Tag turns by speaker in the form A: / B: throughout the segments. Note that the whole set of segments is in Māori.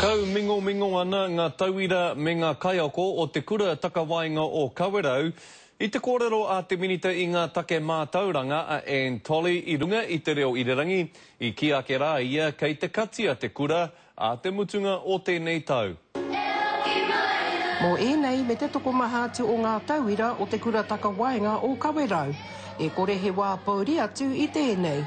A: Kaumingomingo ana ngā tauira me ngā kaiako o Te Kura Takawaenga o Kawerau i te kōrero a te Minita i ngā Take Mātauranga a Anne Tolley i runga i Te Reo Irirangi, i kī ake rā ia kei te katia te kura ā te mutunga o tēnei tau.
B: Mō ēnei me te tokomaha atu o ngā tauira o Te Kura Takawaenga o Kawerau, e kore he wā pouri atu i tēnei.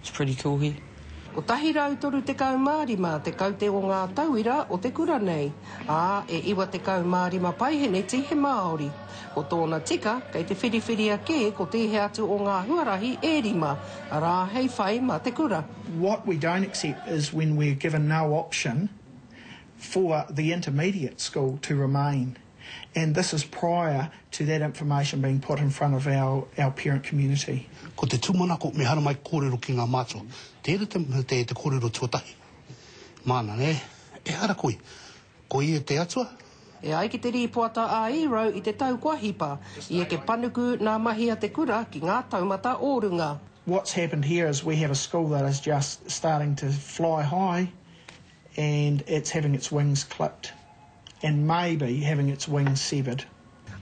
C: It's pretty cool
B: here. 135 te kaute o ngā tauira o te kura nei, ā, e 95 paeheneti he Māori. Ko tōna tika, kei te whiriwhiria kē ko tēhea atu o ngā huarahi e rima, arā, hei whai mā te kura. What we don't
D: accept is when we're given no option for the intermediate school to remain and this is prior to that information being put in front of our our parent community. Ko te tūmanako
E: me haramai kōrero ki ngā mātua. Tēnei te te te kōrero tuatahi. Māna nē, ehara koe. Ko ia te Atua? E ai ki te
B: rīpoata a Ierau i te tau kua hipa, i eke panuku nā mahi a te kura ki ngā taumata o runga. What's happened
D: here is we have a school that is just starting to fly high and it's having its wings clipped. and maybe having its wings severed.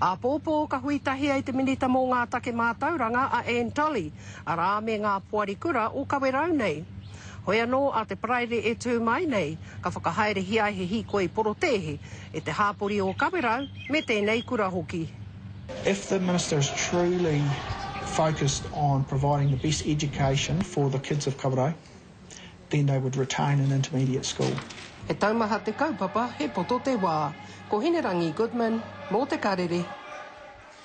D: Āpōpō
B: ka hui tahi ai te Minita mō ngā Take Mātauranga a Anne Tolley, arā me ngā Poari Kura o Kawerau nei. Hoi anō a te Paraire e tū mai nei, ka whakahaerehia he hīkoi porotēhi e te hāpori o Kawerau me tēnei kura hoki. If the
D: Minister is truly focused on providing the best education for the kids of Kawerau, then they would retain an intermediate school. He taumaha
B: te kaupapa He Poto Te Wā. Ko Hinerangi Goodman, mō Te Karere.